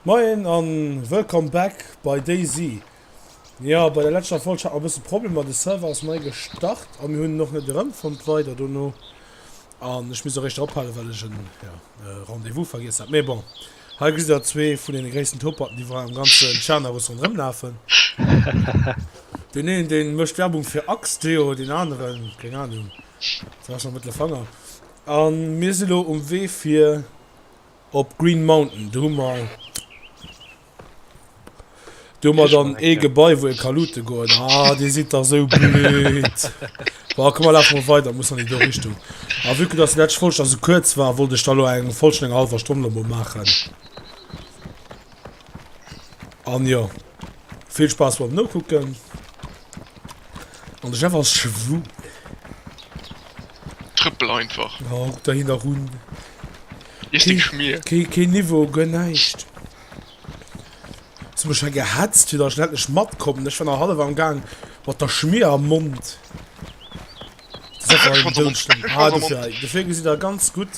Moien an wëllkomm back bei DayZ. Jo bei der letschter Folg hat mer bëssen Problemer, de Server ass nei gestart an mir hunn en och net erëmfonnt weider dono an ech misst och eréischter ophalen well ech en jo Rendez-vous vergiess hat. Mee bon hei gesitt der zwee vun den gréissten Topaten déi wei am ganzen Tschernerus rondrëm lafen. Den een den mëscht Werbung fir Axe Deo den aneren keng Ahnung, den ass schonn Mëttelfanger an mir si lo um Wee fir. Op Green Mountain, do hu mer, do hu mer dann ee Gebai, wou ee ka loote goen. Ah, Dir sidd dach esou blöd! Bon, komm, mer lafe mol weider, muss nach ni do Richtung. A vue que dass déi lescht Folg da sou kuerz war, wollt ech der elo eng voll, schonn eng hallwer Stonn elo mol maachen. An jo, vill Spaass beim Nokucken. An de Chef ass schwul. Trëppel einfach. Ja, guck der hien nach un. Iess deng Schmier. Keen, keen Niveau, guer näischt. Hues mech hei gehetzt, fir datt ech endlech matkommen. Ech war nach hallef am Gaang mat der Schmier am Mond. Dofir gesitt der ganz gutt.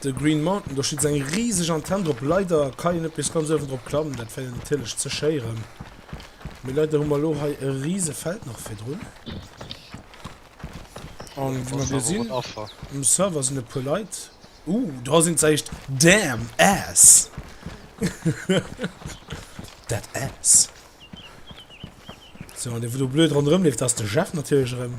De Green Mountain, do steet esou eng riseg Antenn drop. Leider kann een net bis ganz uewen drop klammen, dat wär jo natierlech ze schéieren. Mee leider hu mer elo hei e riese Feld nach virdrun. An wéi mer gleich sinn, um Server sinn e puer Leit. Uh, do sinn se echt. Damn ass! Dat ass. So, an dee wou do blöd ronderëm leeft, dat ass de Jeff natierlech erëm.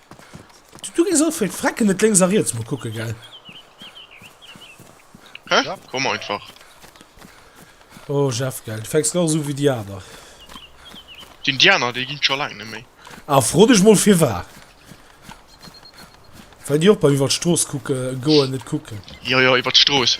Du gees Alfred frecken net lénks a riets mol kucken gell. Hä? Komm einfach. Oh Jeff gell, du fänks nach esou wéi déi aner. Sinn déi aner, déi ginn scho laang net méi. Ah fro dech mol firwar. Well déi och beim iwwert d'Strooss kucken goen net kucken. Jo jo iwwert d'Strooss.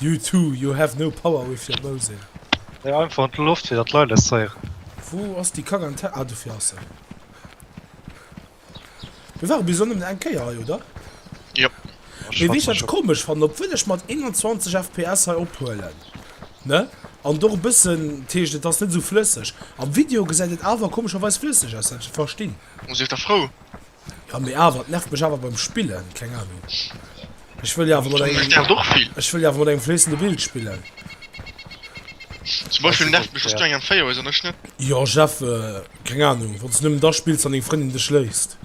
You two, you have no power with your mouthing. Léi einfach an d'Loft fir dat d'Leit eis z'héieren. Wou ass déi Kack an d'Hä-? Ah, dofir ass se. Mir ware bis elo nëmmen eng Kéier hei, oder? Yep. Ech Mee weess du, wat ech komesch fannen? Obwuel ech mat 21 FPS hei ophuelen, ne? An et och e bëssen, dat heescht, et ass net esou flësseg. Am Video gesäit et awer komescherweis flësseg aus, wat ech net verstinn. Sief der frou. Ja mee awer, et nervt mech awer beim spillen, keng Ahnung. Ech wëll jo awer mat engem, Nervt och vill. ech wëll jo awer mat engem fléissende Bild spillen. Zum Beispill nervt mech, dass du eng M4 hues an ech net. Jo Jeff, keng Ahnung, wann s du nëmmen da spills, wann deng Frëndin dech léisst.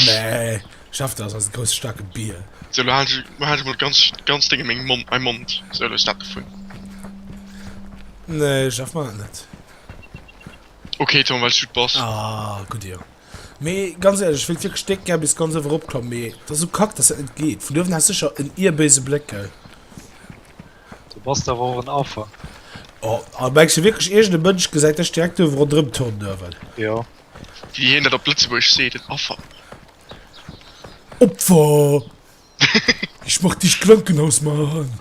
Nee Jeff, dat ass eise grousse staarke Bier. Sou elo halen ech, halen ech mol ganz, ganz denge meng Mond, mäi Mond, sou elo ass dat dovun. Nee Jeff, man dat net. Okay Tom well du bass. Ah gudd Dir. Mee ganz ehrlech, ech wéilt wierklech déck gär bis ganz ëwer ropklammen, mee et ass sou kack dass dat net geet. Vun uewen has secher en ier béise Bléck gell. Du bass der awer och en Affer. Oh a mengs du wierklech iergend e Mënsch gesäit dech direkt uewe rondrëm turnen uewen? Jo. Wéi een dat op Lëtzebuergesch seet, en Affer. Opfer! Ech mach dicht Krankenhaus mar eran.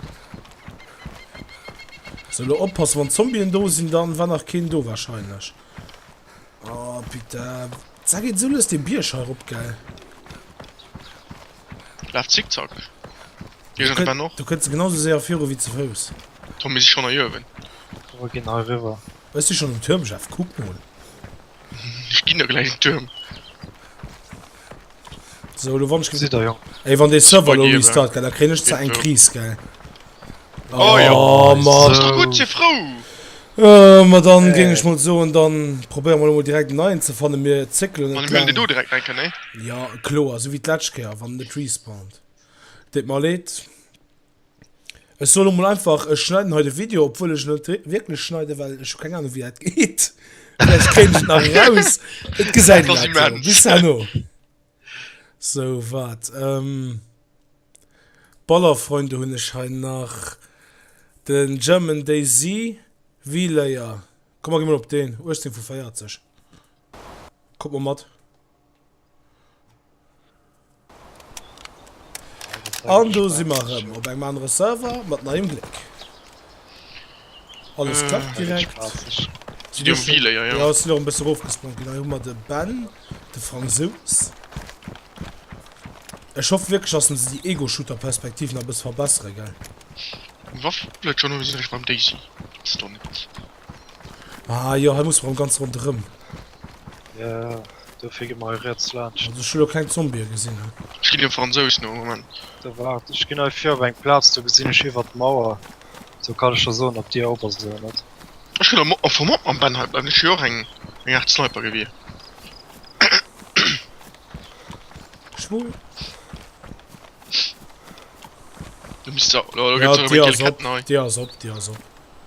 So lo oppassen wann Zombien do sin dann war nach keen do wahrscheinlech oh putain sa geet sou lues den Bierg hei rop gell. Laaf zickzack hei ronderem no. Du kënns genau sou séier viru wéi ze Fouss. Tom mir si schonn hei uewen. Komm mer gin hei riwwer. Ech si schonn um Tuermchef kuck mol. Ech ginn der gläich en Tuerm. So, lo wann ech gesitt der jo. Ey, wann de Server lo restart gell, da kréien ech zwar eng Kris gell. Oh jo. Oh Mann. Ass doch gutt, si frou. Oh, ma dann géing ech mol soen, dann probéiere mer lo mol direkt en neien ze fannen, mir zéckelen net laang. An huelen deen do direkt enken, nee? Jo, kloer, sou wéi d'lescht Kéier, wann en net respawnt. Deet mer leed. Ech soen emol einfach, ech schneiden hei de Video, obwuel ech en net wierklech schneiden, well ech hu keng Ahnung, wéi dat geet. Vläicht kréien ech et nach eraus. Et gesäit Dat ass een immens. bis herno. Sou, waart. Ähm, Ballerfreunde hunn ech hei nach. De German Daisy V-Layer. Komm, mer gi mol op deen, 18 vu 40. Kuck mol mat. An do si mer rëm op engem anere Server mat neiem Gléck. Alles äh, klappt direkt. Si dir Mobile, ja, ja. Ja, si lo e bësse rofgesprongen. Genau, hu mer de Ben, de Fransous. Ech hoff wierklech, dass se déi Ego-Shooter-Perspektiv nach e bësse verbessere, gell? Waffeleton, hu si sech beim Daisy. Stonn. Ah jo, hei muss mer am ganz ronderëm. Ja, dofir gi mer hei riets laanscht. Also ech hu lo keng Zombie gesinn. Ech ginn dem Fransous no, Moment. Da waart, ech ginn hei vir op eng Plaz, do gesinn ech iwwert d'Mauer, do kann ech der soen op Dir op ass oder net. Ech hunn am Fong och mam Ben hei bleiwen, ech wier och eng Aart Sniper gewier. Schwupp. Du misst se, oh, lo gëtt se erëm eng gel Kett nei. Dir ass op, Dir ass op.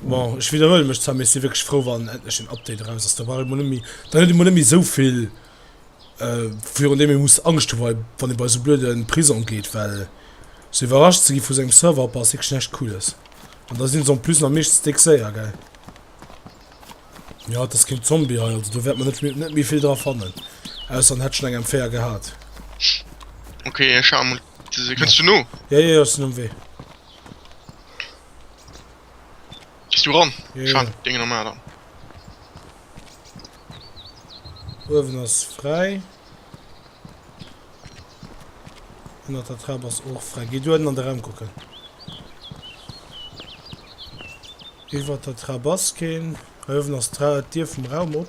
Bon, ech widderhuele mech zwar, mee ech si wierklech frou, wann endlech en Update eraus ass. Da brauch ee mol net méi, dann huet ee mol net méi esou vill, virun deem ee muss Angscht hu, wa wann ee bei esou blöde Prisong geet, well sou iwwerrascht ze gi vu sou engem Serverhopp ass wierklech näscht Cooles. An da si se en plus nach meeschtens déck séier, gell. Jo, et ass keen Zombie hei, also do wäert mer net méi net méi vill dra fannen, ausser en hätt schonn eng M4 gehat. Kënns du no? Ja, ja, ass den um Wee. Bist du ran? Ja, ja. Dinge normal an. Uewen ass frei. An der Trab ass och frei. Geh du an de Raum kucken. Iwwer der Trab ass keen. Uewen ass d'Dier vum Raum op.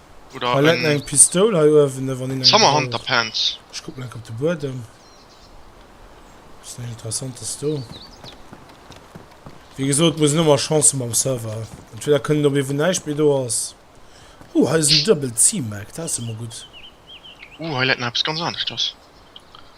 Oder en Paletten eng Pistoul hei uewen ne wann een eng Summer Hunter brauch. Pants. Ech kucken enk op de Buedem. Ass näischt interessantes do. Wéi gesot muss een ëmmer Chance hu mam Server. Entweder kënnt een op ee wou näischt méi do ass. Oh hei ass en Double C-Mac, dat ass jo mol gutt. Uh hei läit nach eppes ganz aneschters.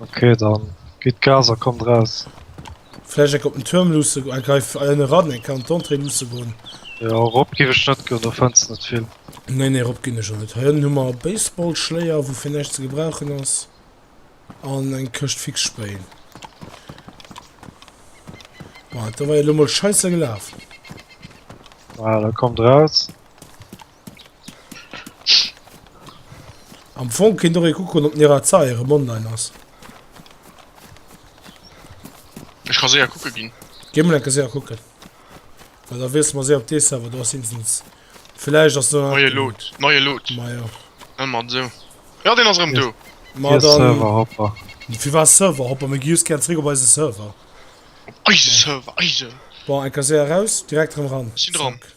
Ok dann gitt Gas a kommt raus. Vläicht enk op den Tuerm luusse go, enk hei ënne ran, enk hei an d'Entrée luusse goen. Jo, erop giff ech net goen, do fënns de net vill. Nee nee, erop ginn ech och net. Hei ënnen hu mer e Baseballschléier, wou fir näischt ze gebrauchen ass, an eng Këscht Fixsprayen. Bon, dat do war jo elo mol scheisse gelaf. Ah, da kommt raus. Am Fong kinnt och ee kucken op den Erazae erem online ass. Ech ka séier kucke ginn. Géi mol enke séier kucken. Well da weess mer séier op dee Server do ass insens. Villäicht ass do. Neie Loot, neie Loot. Ma jo. Hëll mat esou. Jo deen ass erëm do. Ma dann. Fir Serverhopper. Firwat Serverhopper? Mir gi just gären zeréck op eise Server. Op eise Server, eise. Bon, enke séier raus, direkt erëm ran. Ech sinn dran. Zack.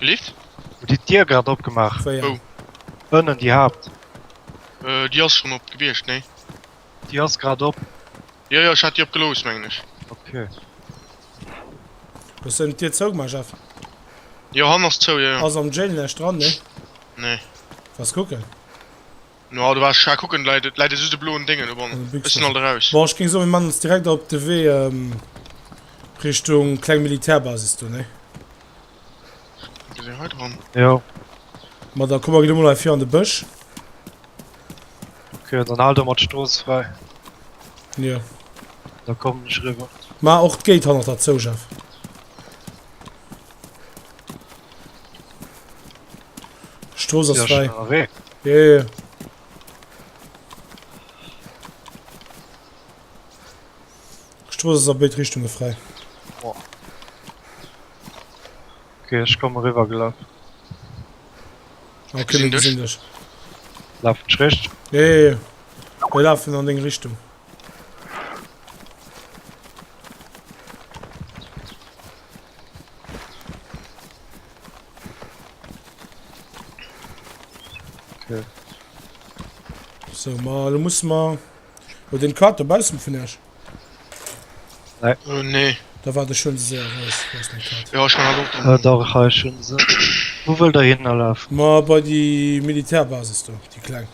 Lift? Hutt Dir d'Dier grad opgemaach? Wéi eng? Ënnen, déi Haapt. Déi ass schonn op gewiescht, nee. Déi ass grad op. Jo, jo, ech hat déi opgelooss, mengen ech. Ok. Hues de d'Dier zougemaach, Jeff? Jo, hannen ass zou, jo, jo. Ass am Jail näischt dran, nee? Nee. Wars kucken? No du bass scha kucken leit et läit et just e bloen Déngen do bon ech sinn alt eraus. Bon ech géing soen mir man ons direkt op de Wee Richtung kleng Militärbasis do nee? Ech gesinn hei dran. Jo. Ma da komme mir emol hei vir an de Bësch. Ok dann haalt emmer d'Strooss fräi. Jo. Da kommen ech eriwwer. Mar och d'Gate hannert der zou Jeff. Stroos ass frei. Yeah. Stroos ass a béid Richtunge frei. Oh. Okay, ech komme riwer gelaf. Okay, mir gesinn dech. Laf schrecht. Yeah. Wir lafen an deng Richtung. So, ma, du musst mal. Oder den Kater bausen vun Esch. Oh, nee. Da war de schon sehr raus. Was den Kater. Ja, ich kann auch. Äh, da ha ich schon se. Wo wollt der hinlaf? Ma bei die Militärbasis do, die kleng.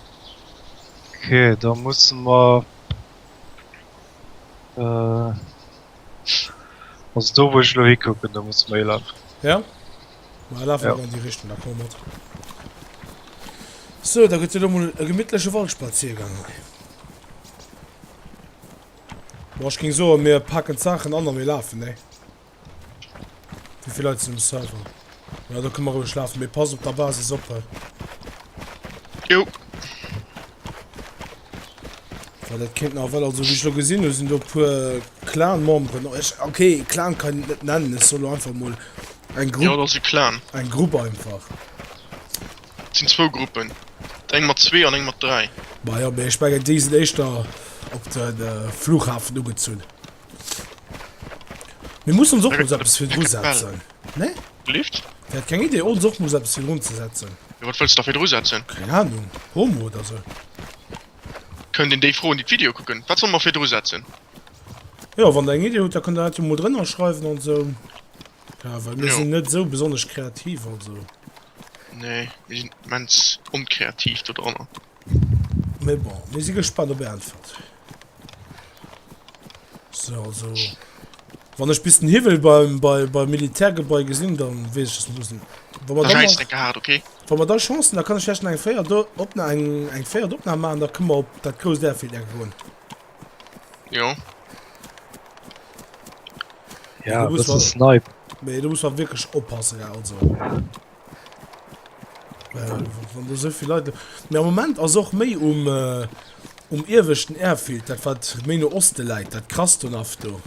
Okay, da muss mer. Äh. Also do wou ech lo hikucken, do muss mer hie lafen. Ja? Ma laf awer an déi Richtung, da komme mat. Sou, da gëtt et elo mol e gemittleche Waldspaziergang hei. Bon, ech géing soen, mir paken d'Saachen an a mir lafen, nee? Wéi vill Leit sinn um Server? Jo, da kënne mer roueg lafen, mee pass op der Basis op hei. Jo. Well dat kéint nach, well also wéi ech elo gesinn hunn, sinn do e puer Clan-Memberen. Ech, okay, Clan kann een et net nennen, ech soll elo einfach mol eng Grupp. Jo, dat ass e Clan. Eng Grupp einfach. Et sinn zwou Gruppen, eng mat zwee an eng mat dräi. Ma jo, mee ech mengen, déi sinn éischter op de Flughafen ugezunn. Mir mussen ons och mol sou eppes virdru setzen. Nee? Lift? Déi hat keng Idee, ons och muss eppes fir drun ze setzen. Jo wat wëlls da fir dru setzen? Keng Ahnung, Homo oder sou? Kënnt een déi froen déi d'Video kucken, wat solle mer fir dru setzen? Jo wann der eng Idee hutt da kënnt der dat jo mol drënner schreiwen an sou, ja well mir sinn net sou besonnesch kreativ also. Nee mir sinn immens onkreativ do drënner. Mais bon, mir si gespannt op är Äntwert. So, also, wann ech bis den Hiwwel beim, bei, beim Militärgebai gesinn, dann wees ich, dass mir müssen. Wann wir dann, noch, hart, okay? wann wir dann Chancen, dann kann ich vielleicht eng Féier opna eng, eng Féier opna machen, da können wir op dat groß Airfield ergoen. Jo. Ja, das ist Snipe. Nee, du musst mal wirklich oppassen, ja, also. Mee am Moment ass och méi um um ieweschten Airfield, dat wat méi no Oste läit, dat Krastonov do.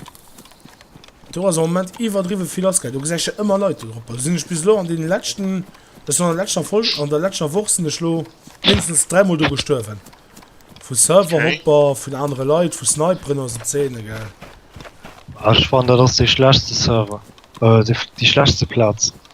Do ass am Moment iwwerdriwwe vill lassgaangen. Do gesäit ech jo ëmmer Leit do drop. Sinn ech bis elo an deenen leschten, ech sinn an der leschter Folge, an der leschter Woch sinn ech elo mindestens dräimol do gestuerwen. Vu Serverhopper, vun anere Leit, vu Sniperen oder esou Zeene, gell. Ech fannen, dat ass dee schlechste Server, déi schlechste Plaz.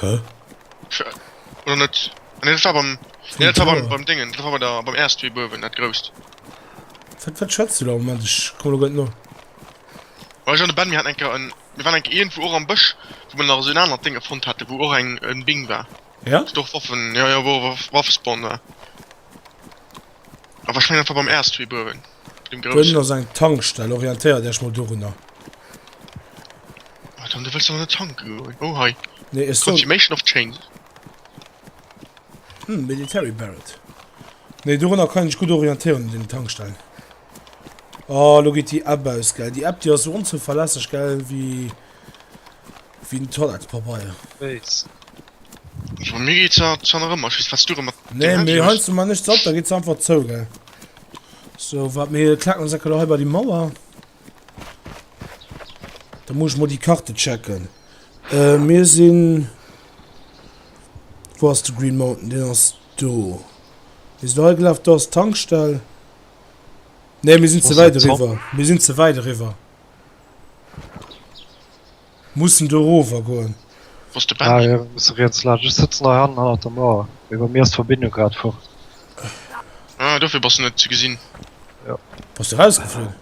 Hä? Oder net? Ah nee dat war beim, nee dat war beim, beim Dingen, dat war bei der, beim Erst wéi buerwen, dat grousst. Wat, wat schwätzt du da? Moment, ech komme lo grad no. Well ech an de Ben, mir haten eng Kéier en, mir waren eng Kéier iergendwou och am Bësch, wou mer nach esou en anert Ding erfonnt hate wou och eng, en Bing war. Ja? Wat och Waffen, jo jo, wou och Waffespawn war. Awer ech mengen einfach beim erst wee buerwen dem groussen. Dënnen ass eng Tankstell, orientéiert Äech mol dorunner. Wat an du wëlls an de tanken goen? Oh hei nee ech soen Confirmation of change. Hm military Barrett nee dorunner kann een sech gutt orientéieren un den Tankstellen. Oh lo geet déi App aus gell, déi App déi ass sou onzouverlässeg gell wéi. Wéi den Toilettspapeier. Béis. Ech war Miggy zwar zwar nach ëmmer, ech weess wat du rëm mat Nee, deem Handy mee hues. heinsdo man nichts ab, da geet se einfach zou, gell. So, waart, mir klacken ons eckelo hei bei déi Mauer. Da muss ech mol déi Karte checken. Äh, mir sinn. Wou ass de Green Mountain? Deen ass do. Mir sinn do hei gelaf, do ass d'Tankstell. Nee, mir sinn Wo ze ass dat wäit Zopp? eriwwer. Mir sinn ze wäit eriwwer. Mussen do rower goen. Wou ass de Benny? Ah jo, mir musse riets laanscht. Ech sëtzen hei hannen hannert der Mauer, mee bei mir ass d'Verbindung grad fort. Ah, dofir bass de net ze gesinn. Jo. Bass de rausgeflunn?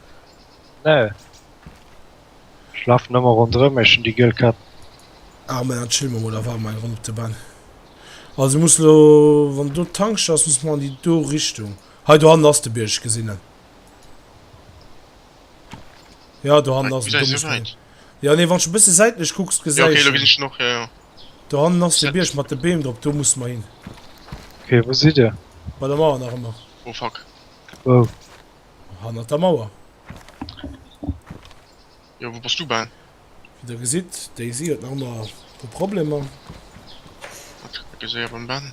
Nee. Ech lafen ëmmer ronderëm iech un déi giel Kett. Ah, mä dann chille mer mol awer mei ronn op de Benn. Also muss elo, wann do d'Tankstell ass, muss mer an déi do Richtung. Hei do hannen ass de Bierg, ech gesinn en. Ja, do hannen ass den Dommelsteen. Ja, nee, wann du e bësse säitlech kucks, gesäis du. Ja, okay, lo ginn ech noch, ja, ja. Do hannen ass de Bierg mat de Beem drop, do musse mer hin. Okay, wou sidd Dir? Bei der Mauer nach ëmmer. Oh, fuck. Wou? Hannert der Mauer. Jo, wou bass du bal? Wéi Der gesitt, Daisy huet nach ëmmer e Problemer. Wat? Ech gesäi op en Ben.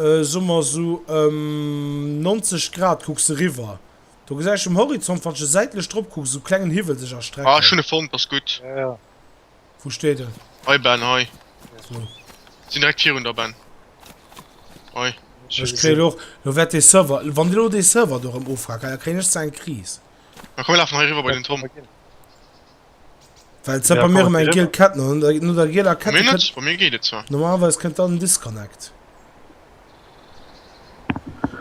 soe mer esou ëm 90 Grad, kucks de riwwer, do gesäis ech um Horizont, wann ech esou säitlech drop kucken, esou e klengen Hiwwel sech erstrecken. Ah, ech hunn e fonnt, ass gutt. Wou steet en? Hei, Ben, hei. Wou? Sinn direkt virun der, Ben. Hei. Ech kréien elo och, elo wäert dee Server, wann elo dee Server do erëm ofrackt, da kréien ech zwar eng Kris. Ma komm, mir lafen hei eriwwer bei den Tom. Well ze bei mir eng giel Kett no der gieler Kett. Bei mir geet et zwar. Normalerweise kënnt dann Disconnect.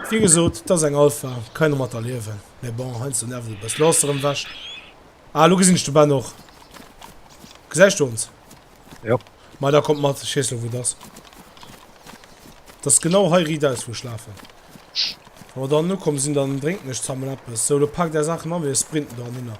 Wie gesot, dat ass eng Alpha, kann een domat erliewen. Mee bon, heiansdo nervt et e bësschen. Lo ass se erëm ewech. Ah, lo gesinn ech de Ben och. Gesäis du ons? Jo. Ma da kommt mat, ech weess lo wou et ass. Dat ass genau hei riidaus, wou ech lafen. Wa mer dann ukomm sinn, dann drénken ech zesammen eppes. Sou, lo paakt är Saachen a, mir sprinten dohinner.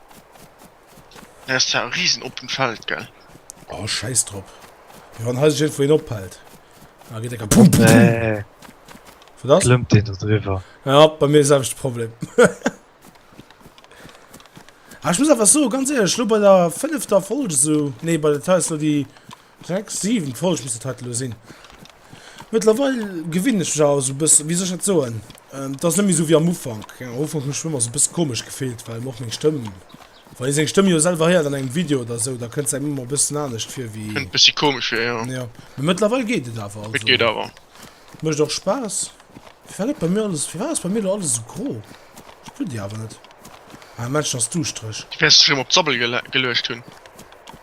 Hei ass zwar e risen oppent Feld, gell? Oh, schäiss drop. Mee wann hei sech iergendwou een ophält, da geet e ka pum, pum, pum. Nee. Wat ass? Klëmmt een do driwwer? Ja, bei mir selwechte Problem. Ah, ech muss awer soen, ganz éierlech, elo bei der fënnefter Folge esou, nee, bei der, dat war jetzt elo déi. Sechs, siwen Folge misst et hei elo sinn. Mëttlerweil gewinn ech mech awer esou e bëssen, wéi soll ech dat soen, et ass net méi esou wéi am Ufank. Am Ufank hunn ech mech ëmmer esou e bësse komesch gefillt, well och meng Stëmm, wann ee seng Stëmm jo selwer héiert an engem Video oder esou, da kënnt se engem ëmmer e bëssen anescht vir wéi, Kënnt e bëssi komesch vir, jo. jo. Mee mëttlerweil geet et awer, Et also geet awer. et mécht och Spaass. Firwat gëtt bei mir alles, firwat ass bei mir elo alles esou gro? Ech spillt déi awer net. Ah, Männchen ass duuschtreg. Du wäerts dech erëm op d'Sabbel geluecht hunn.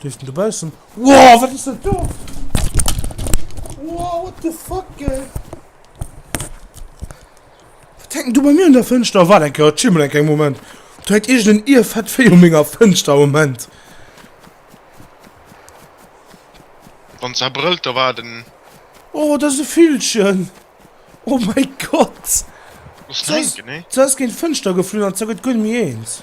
Bléift en dobaussen? Wow, wat ass dat do? Wow, what the fuck, ey? Wat hänkt du bei mir an der Fënschter? Wat enker, chill mal enker, eng Moment. Du hängt irgend en Irrfett Véi un menger Fënschter, Moment. Wann se brëllt, da war et en. Oh, dat ass e Villchen! Oh mäi Gott! Muss en hänken, nee? Se ass géint d'Fënschter geflunn an se gëtt guer net méi eens.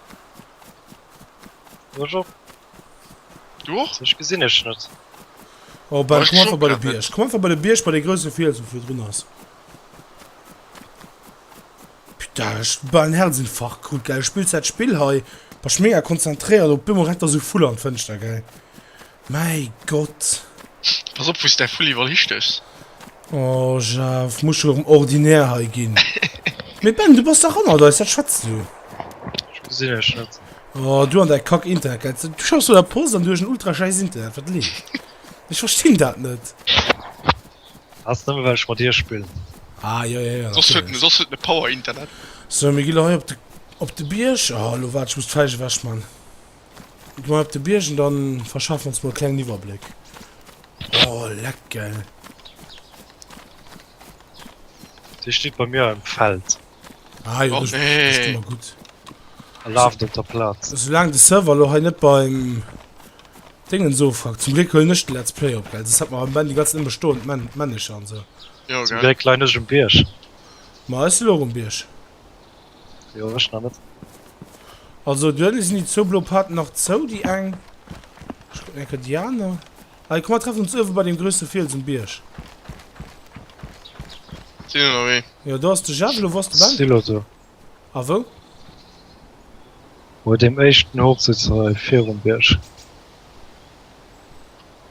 Ech och. Du och? Dech gesinn ech net. Oh, bei, komm einfach bei de Bierg. Komm einfach bei de Bierg, bei de grouse Fiels, wo vir drun ass. Putain, ech war en Herzinfarkt krut, gell. Spills dat Spill hei. Warst mega konzentréiert, op eemol rennt da sou Vull an d'Fënschter, gell. Mäi Gott! Pass op wou s däi Fulli iwwerall histechs. Oh Jeff, muss scho erëm ordinär hei ginn. Mee Ben, du bass dach hannert eis, wat schwätz du? Ech gesinn iech net. Oh, du an däi kack Internetleitung. Du schaffs op der Post an du hues en ultra schäiss Internet, wat leescht? Ech verstinn dat net. Ass nëmme well ech mat dir spillen. Ah jo, jo, jo, Soss huet en, natierlech. soss huet en e Power-Internet. So, mir gi lo hei op de, op de Bierg. Oh, lo waart, ech muss d'Fällch ewechman. Gi mer op de Biergen, da verschaffen ons mol e klengen Iwwerbléck. Oh, leck, gell? Dee steet bei mir am Feld. Ah jo, dat ass ëmmer gutt. E laaft op der Plaz. Soulaang de Server elo hei net beim Déngens ofrackt. Zum Gléck huelen ech de Let's Play op, gell? Soss hätt mer am Band déi ganz Zäit nëmme stoend Männecher an esou. Zum Gléck leien ech um Bierg. Ma ech si elo och um Bierg. Jo ech nach net. Also duerno sinn déi zwou blo Paten nach zou, déi eng, ech kucken eng Kéier déi aner, hei komm mer treffen ons uewe bei dem grousse Fiels um Bierg. Sinn ënner wee. Jo do ass de Jeff, elo wou ass de Ben? Sinn elo do. A wou? Bei deem éischten Hochsitz hei virum Bierg.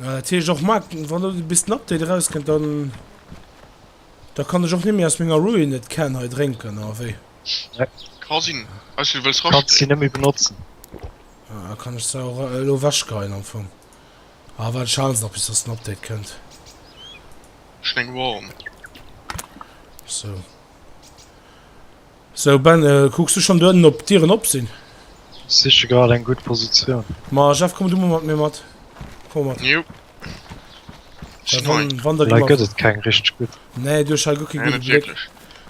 Ah, dat heescht och Marc, wann do bis den Update erauskënnt, dann da kann ech och net méi aus menger Ruined Can hei drénken, oder wéi? Yep. Ka sinn. Weiss wéi du wëlls rasch Kanns si net méi benotzen. Ah, da kann ech se och elo ewechgeheien am Fong. Ah, wat schal se nach bis datt den Update kënnt. Schneng warm. Sou. So Ben, kucks du schon duernen op d'Dieren op sin? Siche grad eng gudd Positioun. Ma Jeff komm du mol mat mir mat, komm mat. Jo. Hei gëtt et keng richteg gudd. Nee du hues hei guer kee gudde Bléck.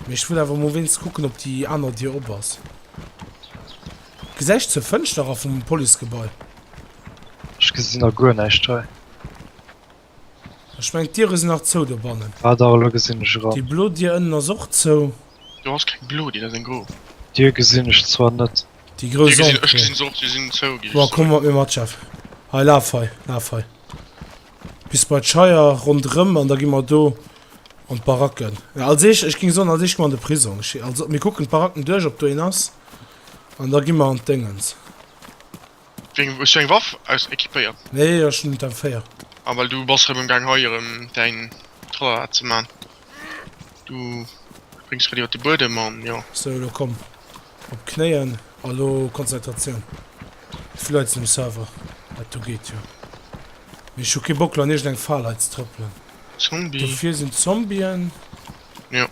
Mee ech wëll awer mol wéinst kucken op déi aaner Dier op ass. Gesäich zur Fënschter ra vum Policegebai. Ech gesin a guer näischt hei. Ech mengen d'Diere sinn nach zou dobannen. Ah dach, elo gesinn ech eran. Déi blo Dier ënnen ass och zou. Do ass keng blo Dier, dat ass eng gro. Dier gesinn ech zwar net. Déi gro Dier gesinn ech, gesinn se och, déi sinn zou ginn. Bon komm mat mir mat Jeff, hei laf hei, laf hei bis bei d'Scheier ronderëm an da gi mer do an d'Baracken. Als éischt, ech géing soen als éischt gi mer an de Prisong. Ech also mir kucken d'Baracken duerch ob do een ass an da gi mer an d'Déngens. Wéi hues du eng Waff aus equipéiert? Nee ech hun der 4. Ah well du bass rem emgang hei erem däin Tralala ze maan, du spréngs grad iwert de Buedem an jo. Sou lo komm op d'Knéien a lo Konzentratioun, vläit zum Server, dat do geet jo, mee ech hu kee Bock lo an iergend eng Fal hei ze trëppelen. Zombie. Dofir sin d'Zombien. Jo.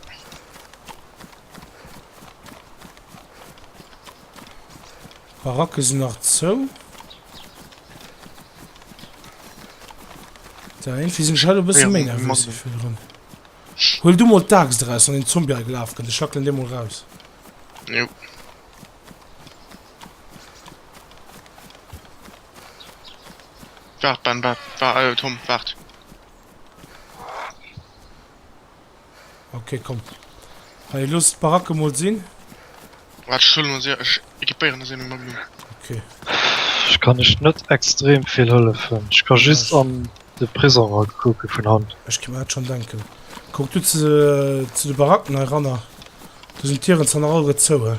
D'Barack ass nach zou. Da irgendwie sinn ech hei e bësse méi nervös wéi virdrun. Huel du mol d'Axt draus, wann een Zombie hei gelaf kënnt. Ech hackelen dee mol raus. Jo. Waart, Ben, waart, waart, Tom, waart. Okay, komm. Hey, los die Baracke mal sehen. Warte, ich hole mal sehr. Ich equipiere das eben mal Blumen. Okay. Ich kann nicht, nicht extrem viel helfen. Ich kann ja, just ich... an den Prison gucken von Hand. Ich kann mir das schon denken. Guck du zu, zu den Baracken heran. Du sind Tieren sind alle zu.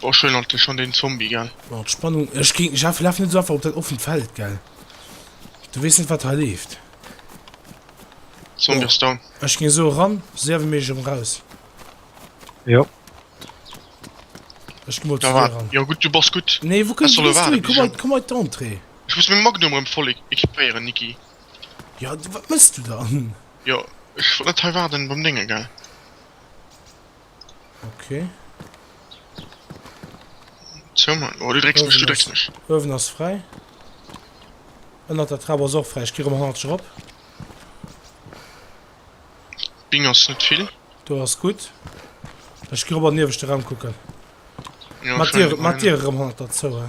Oh schön an schon den Zombie gell. Oh, d'Spannung ech ging ich hab laf net so einfach op dat offen Feld gell du wees net wat ha leeft Zombie down Ech ging so ran sewe mech um raus Jo Ech gi mol zu dir ran Jo gut du bass gut Nee wou kënns du hin komm hei komm hei d'Entrée Ech muss meng Magnum rem voll equipéieren Niki Jo wat mëss du dann? Jo ech wollt net hei waarden beim Déngen gell. Okay. So, Mann. Oh, du drecks mich, du drecks mich. Öwen ass frei. Ënnert der Trab ass och frei. Ich gehe um 100 op. Bing ass net vill. Du ass gut. Ich gehe op an den ieweschte Raum kucken. Ja, Mat dir, mat dir um 100 dazu, he?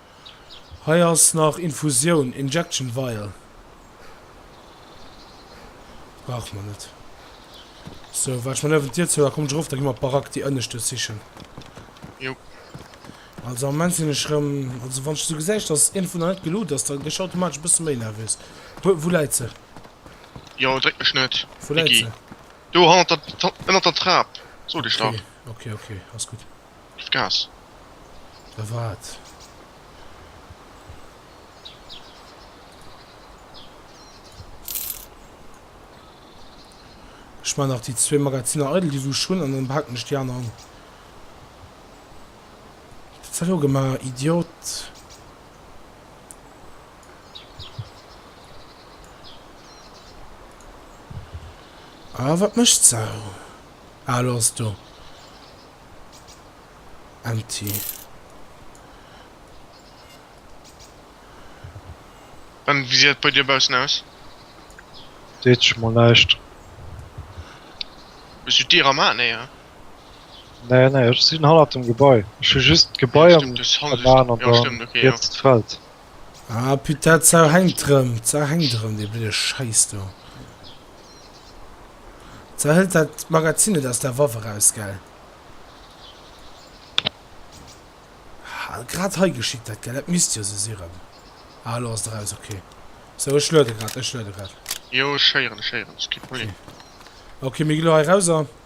Hei ass nach Infusioun, Injection Vial, brauche mer net. Sou, wat ech mer niewent d'Dier zou, da komm ech erof, da gi mer d'Barack, déi ënnescht do sichen. Jo. Also am Moment sinn ech erëm, also wann ech esou gesäich, dass een dovunner net geloot ass, da gi ech automatesch e bësse méi nervös. Wou, wou läit se? Jo, dréck mech net, Wou läit Iggy. se? Do hannert der, ënnert der Trap, sot ech dach. Okay, okay, okay, ass gutt. Ech gass. A wat? Ech man nach déi zwee Magaziner eidel, déi wou ech hunn, an dann behalen ech déi aner an. Wat hues de elo gemaach, Idiot? A wat mécht d'Sau? Ah, elo ass et do. Empty. An wéi seet et bei dir baussen aus? Seet sech mol näischt. Hues du d'Dier am Haen héieren? Nee, nee, ech sinn hannert dem Gebai. Ech hu just d'Gebai am Haen an da riets d'Feld. Ah, putain, d'Sau hängt drëm. D'Sau hängt drëm, dee blöde Scheiss do. D'Sau hëlt dat Magazin net aus der Waff eraus, gell? Ah, grad hei geschitt dat, gell? Dat misst jo sou si rëm. Ah, elo ass et eraus, okay. Sou, ech luede grad, ech luede grad. Jo, ech héieren, ech héieren. Ski Problem. Okay, mir gi lo hei erauser.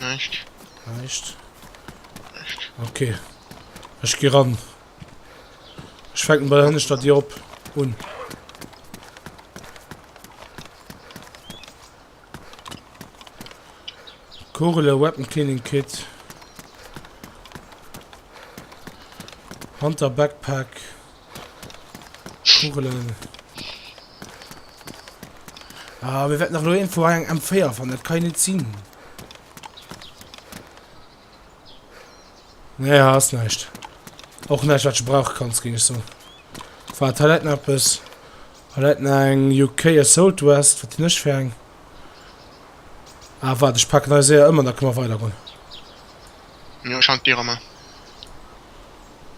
Näischt. Näischt. Näischt. Ok. Ech gi ran. Ech fänken bei der hënneschter Dir op un. Kugele, Weapon Cleaning Kit. Hunter Backpack. Kugelen. Ah, mir werden nach nur irgendwo ein M4 von, das kann ich nicht ziehen. Nee, hast nicht. Auch nicht, was du brauchen kannst, ging ich so. War Toiletten etwas. Toiletten ein UK Assault West, was nicht für ein. Ah, warte, ich packe neue Seher immer, dann können wir weitergehen. Ja, scheint dir immer.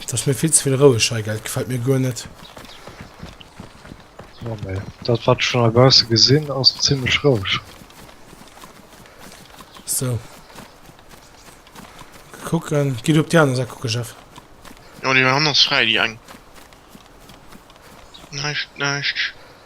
Dat ass mir vill ze vill roueg hei, gell? Gefält mir guer net. Jo, mä dat, wat ech schonn heibausse gesinn, ass zimmlech roueg. So. Kucken. Gi du op déi aner Säit kucke, Jeff? Jo, déi aner ass fräi, déi eng. Näischt, näischt.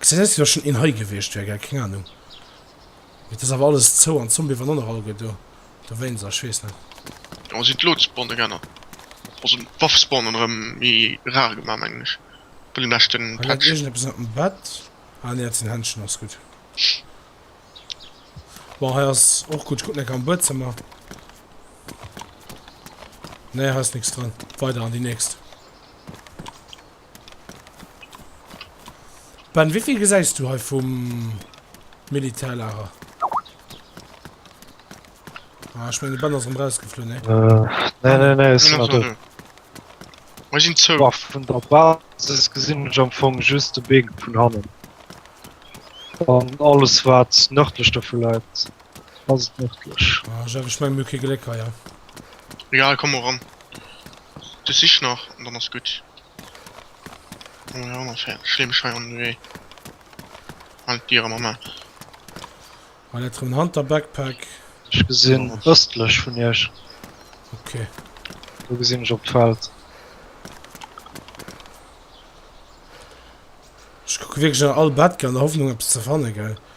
Gesinn aus wéi wa schon een hei gewiescht wär, gell? Keng Ahnung. Mee et ass awer alles zou an d'Zombie waren och nach alleguer do dowéinst, ech weess net. Awer sinn d'Loot-Spawne geännert? Also d'Waff-Spawnen erëm méi rar gemaach mengen ech bei dem leschten Patch. Hei läit iergendeppes ënnert dem Bett. Ah nee dat sinn Händschen, ass gutt. Bon hei ass och gutt, kucken eng Kéier am Buedzëmmer. Nee hei ass nix dran, weider an déi nächst. Ben, wéivill gesäis du hei vum Militärlager? Ah, ech menge Ben ass rem rausgeflunn, nee? Äh, nee, nee, nee, ech sinn nach do. Mei sinn zou. Boah, vun der Basis gesinn ech am Fong just de Big vun hannen. An alles wat nërdlech dovu läit. Ass et nërdlech? Ah, Jeff, ech mengen mir hu kee Gléck hei, hein? Egal, komm mol ran. Du sich nach an dann ass gutt. Mol ran, fäert. Ech leeë mech hei an de Wee. Halen d'Dier ëmmer ma. Hei läit erëm en Hunter Backpack. Ech gesinn ëstlech vun iech. Ok. Do gesinn ech op d'Feld. Ech kucke wierklech no all Bettger an der Hoffnung eppes ze fanne, gell?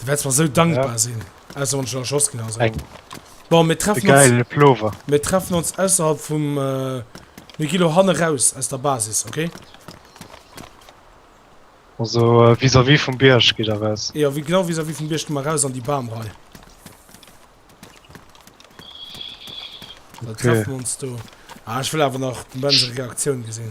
Du wärst mer sou dankbar sinn. Ausser wann ech dann erschoss ginn, also. Bon, mir treffen uns. Geilen Plover. Mir treffen ons ausserhalb vum. Mir gi lo hanne raus aus der Basis, okay? Also vis-à-vis vum Bierg geet Der raus? Jo, genau vis-à-vis vum Bierg gi mer raus an déi Bamrei. Da treffen mir ons do. Ah, ech wëll awer nach d'Avenger Reaktioun gesinn.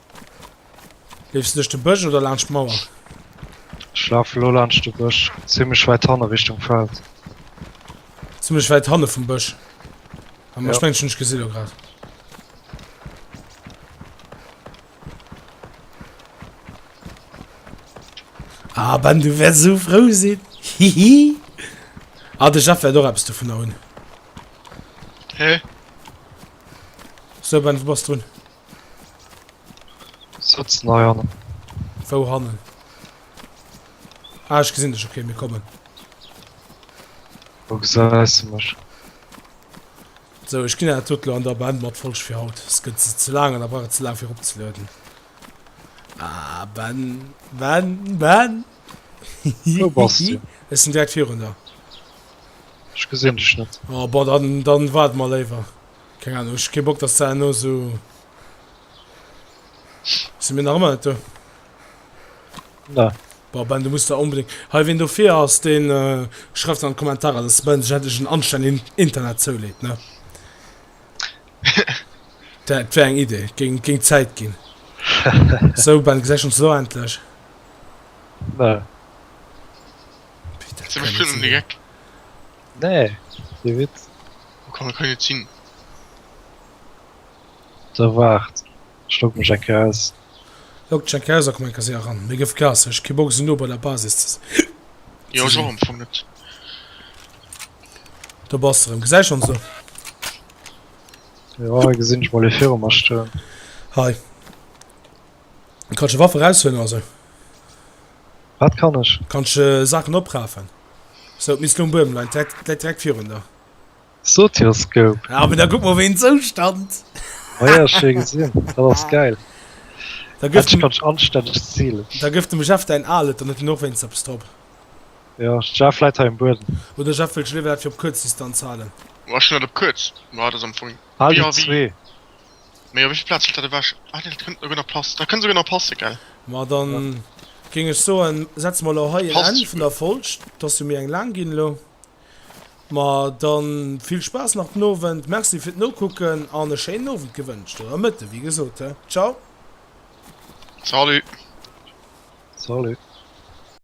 Leefs du duerch de Bësch oder laanscht d'Mauer? Ech lafe lo laanscht de Bësch, zimmlech wäit hanne Richtung Feld. Zimmlech wäit hanne vum Bësch. Am ja. Spengchen ech gesi lo grad. Ah, ben du wär so frou sinn. Hihi. ah, de Jeff wär do appst du vun der hunn. Hä? Hey. So ben du bass drun. Sëtzen hei hannen. Wou hannen? Ah, ech gesinn dech, okay, mir kommen. Wou gesäis du mech? So, ech ginn dat lo an der Band mat Folg fir haut. Es gëtt se ze laang an der brauch ze laang fir opzelueden. Ah, Ben, Ben, Ben! Wou bass du? Ech sinn direkt virun der. Ech gesinn dech net. Oh, bon, dann, dann waart mol léiwer. Keng Ahnung, ech hu kee Bock dass se herno sou sinn mir nach ëmmer net do? Na. Boah Ben, du muss der onbedéngt. Hei ween dofir ass, deen schreift an Kommentarer dass de Ben sech endlech en anstännegen Internet zouleet ne? Dat wär eng Idee, géing géing Zäit ginn. Sou Ben, gesäit ons elo endlech? Na. Wéi dat kann sinn. Nee, dee Witz. Wou kann kann et sinn? Da waart, ech logge mech eng Kéier aus. Logg dech eng Kéier aus a komm eng Kéier séier eran. Mir gëff Gas, ech hu kee Bock esou no bei der Basis ze sinn. Jo, ech och am Fong net. Do bass de rëm. Gesäich ons do? Jo, hei gesinn ech mol ee viru mer stoen. Hei. Kanns de Waffe raushuelen oder sou? Wat kann ech? Kanns de Saachen oprafen? Sou, d'Miss Lung Buem leit direkt virun der. Sotioscope. Ja, aber da guck mal, wen Zustand. Oh ja, schön gesehen. Das ist geil. Da gibt es ganz anständig Ziel. Da gibt dem Chef dein Alet, dann hat er noch wenigstens etwas drauf. Ja, Chef leidt im Boden. Oder Chef will Schliff für Kurzdistanz halten. Was schon auf kurz? War das am Funk? Halt die zwei. Mee op wéivill Plazen steet dat ewech? Ah nee, dat kënnt esouguer nach passen, dat kënnt esouguer nach passen, gell? Ma da géing ech soen, setze mer elo hei en Passt Enn vun esouguer. der Folg. 't ass jo méi eng laang ginn elo. Ma da vill Spaass nach den Owend, Merci fir d'Nokucken an e schéinen Owend gewënscht, oder Mëtte wéi gesot, he. Ciao. Salut. Salut.